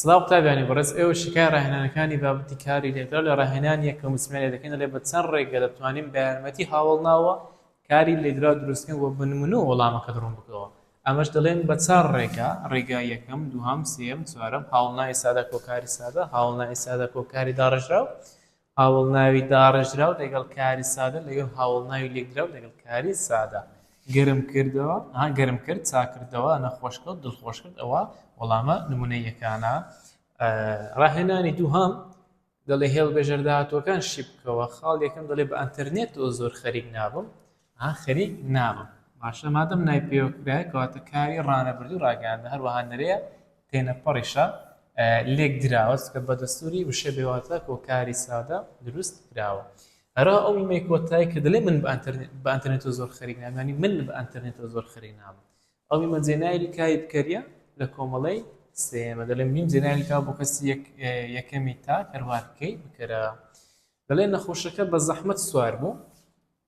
سڵاو قوتابیانی بەڕێز ئێوە شیکای ڕاهێنانەکانی بابەتی کاری لێدراو لە ڕاهێنان یەکەم و سمێنێ دەکەین دەڵێ بە چەند ڕێگە دەتوانین بە یارمەتی هاوەڵناوە کاری لێدراو دروستکەین و بە نمونەوە وەڵامەکەت ڕوون بکەوە ئەمەش دەڵێن بە چار ڕێگا ڕێگا یەکەم دووهەم سێیەم چوارەم هاوڵناوی سادە کۆکاری سادە هاوڵناوی سادە کۆکاری داڕێژراو هاوەڵناوی داڕێژراو لەگەڵ کاری سادە لەگەڵ هاوەڵناوی لێکدراو لەگەڵ کاری سادە. گەرم کردەوە، ها گەرم کرد، چاک کردەوە، نەخۆش کەوت، دڵخۆش کرد، ئەوە وەڵامە نموونەییەکانە. ڕاهێنانی دووهەم، دەڵێ هێڵبژێرداهاتووەکان شی بکەوە، خاڵی یەکەم دەڵێ بە ئەنتەرنێتەوە زۆر خەریک نابم، ئا خەریک نابم. باشە مادەم نای پەیوە کرایە کەواتە کاری ڕانەبردوو ڕاگەیاندنە هەروەها نرێیە تێنەپەڕیشە لێک دراوە چونکە بە دەستووری وشە بێ واتا کۆ کاری سادە دروست کراوە هەرا ئەو ئیمەی کۆتای کە دەلێ من بە ئەنتەرنێتۆ زۆر خەریک نامانی من بە ئەنتەرنێتۆ زۆر خەری نابم ئەو ئیمە جێنایلی کاری بکەریە لە کۆمەڵەی سێمە دەلێم نیم جێنایلی کا بۆ کەسی یەکەمی تا کەروارکەی بکەرە دەلێ نەخۆشەکە بە زەحمەت سوار بوو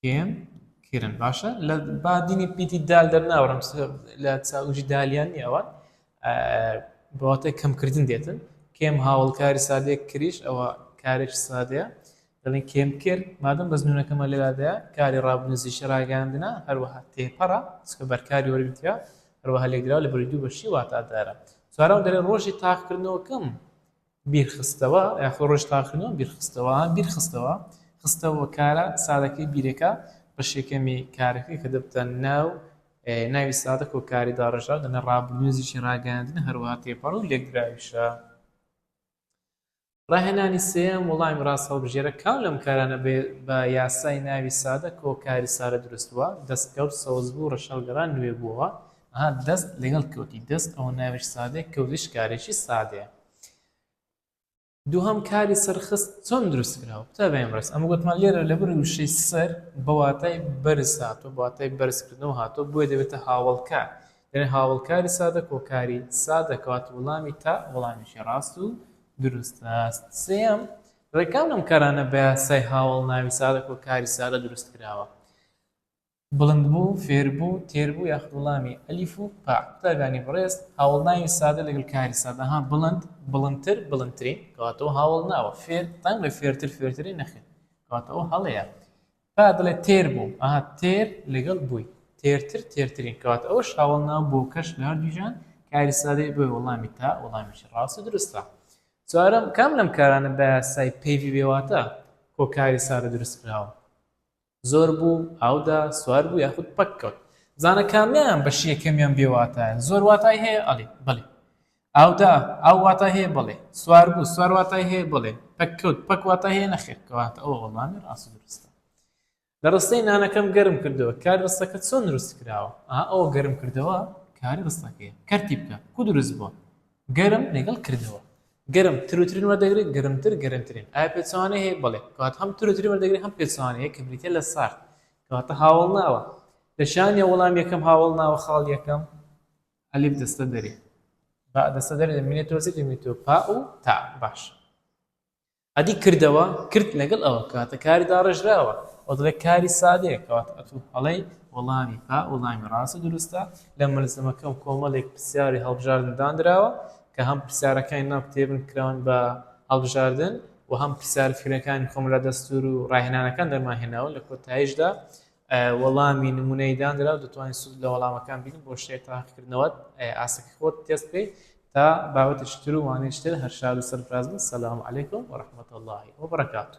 کێن کرن باشە لە با دینی پیتی دال دەرناوەرم لە چاوژی دالیان نیە ئەوان بەواتای کەمکردن دێتن کێم هاوڵکاری سادێک کریش ئەوە کارێک سادەیە دەڵێن کێم کرد مادەم بەزنونەکەمە لەلادەیە کاری ڕابنزی شەراگەاندنا هەروەها تێپەڕە چکە بەرکاری وەرگتیا هەروەها لێکدرا لە بەری دوو بەشی واتادارە چوارەوە دەێ ڕۆژی تاقکردنەوەکەم بیرخستەوە یاخود ڕۆژ تاقیکردنەوە بیرخستەوە ها بیرخستەوە خستەوە کارە سادەکەی بیرەکە بەشێکەمی کارەکەی کە دەبتە ناو ناوی سادە کۆکاری داڕێژراو دەنە ڕابردووێزیی ڕاگەیاندنە هەروەها تێپەڕ و لێکدراویشە ڕاهێنانی سێیەم وەڵامی ڕاست هەڵبژێرە کام لەم کارانە بە یاسای ناوی سادە کۆکاری سارە دروستووە دەستکەوت سەوزبوو ڕەشەڵگەڕان نوێ بووەوە ها دەست لەگەڵ کەوتی دەست ئەوە ناویش سادەیە کەوتیش کارێکی سادەیە دووهەم کاری سەرخست چۆن دروست کراوە تا بەم ڕست ئەمە گوتمان لێرە لە بری وشەی سەر بەواتای بەرز هاتۆ بەواتای بەرزکردنەوە هاتۆ بۆیە دەبێتە هاوڵکار دەێ هاوڵکاری سادە کۆکاری سادە کەوات وڵامی تا وڵامیشی ڕاست و دروست هەست سێم ڕێکان ئەم کارانە بە یاسای هاوڵ ناوی سادە کۆکاری سادە دروست کراوە بڵند بوو، فێر بوو، تێر بوو یاخود وڵامی، ئەلیف و پا. قوتابیانی بەڕێز، هاوەڵناوی سادە لەگەڵ کاری سادە، ها، بڵند، بڵندتر، بڵندترین، کەواتەوە هاوەڵناوە، فێر، دەنگ بە فێرتر، فێرترین، نەخێر، کەواتەوە هەڵەیە. پا دەڵێت تێر بوو، ئەها، تێر لەگەڵ بووی، تێرتر، تێرترین، کەواتە ئەوەش هاوەڵناوە، بۆکەش لە هەردوو جیهان کاری سادەیە، بۆیە وەڵامی تا وەڵامێکی ڕاست و دروستە. چوارەم، کام لەم کارانە بە یاسای پەیڤی بێ واتا، کۆ کاری سادە دروست کراوە؟ زۆر بوو، ئاودا، سوار بوو یاخود پەک کەوت. بزانە کامیان بەشی یەکەمیان بێ واتایە؟ زۆر واتای هەیە؟ ئەڵێ، بەڵێ. ئاودا، ئاو واتای هەیە؟ بەڵێ. سوار بوو، سوار واتای هەیە؟ بەڵێ. پەک کەوت، پەک واتای هەیە؟ نەخێر. کەواتە ئەوە وەڵامی ڕاست و دروستە. لە ڕستەی نانەکەم گەرم کردەوە، کاری ڕستەکە چۆن دروست کراوە؟ ئەها ئەوە گەرم کردەوە کاری ڕستەکەیە. کەرتی بکە. کوو دروست بووە؟ گەرم لەگەڵ کردەوە. گەرم، تروترین وەردەگرێت، گەرمتر، گەرمترین. ئایا پێچەوانەی هەیە؟ بەڵێ، کەواتە هەم تروترین وەردەگرێت هەم پێچەوانەی هەیە کە بریتییە لە سارد. کەواتە هاوەڵناوە. لە چیان نییە وەڵام یەکەم هاوەڵناوە خاڵ یەکەم؟ ئەلیف دەستە دەرێ. باء دەستە دەرێ لە مینێ تۆزیک لە مینێ تۆ پاء و تاء. باشە. ئەدی کردەوە، کرد لەگەڵ ئەوە کەواتە کاری داڕێژراوە، ئەو دەڵێت کاری سادەیە، کەواتە ئەتوو هەڵەی وەڵامی با وەڵامی ڕاست و دروستە، لە مەلزەمەکەم کۆمەڵێک پرسیاری هەڵبژاردن دانراوە کە هەم پرسیارەکانی ناو کتێبن کراون بە هەڵبژاردن و هەم پرسیارە فکرەکانی خۆم لە دەستوور و ڕاهێنانەکان دەرمانهێناون، لە کۆتاییشدا وەڵامی نمونەیی دانرا و دەتوانیت سود لە وەڵامەکان بینن بۆ شتێک تاقیکردنەوەت ئاستەکەی خۆت تێست بکەیت تا بابەتێکی تر و وانەیەکی تر هەر شاد و سەرفراز بن سلام علیکم ورحمة الله وبرکاته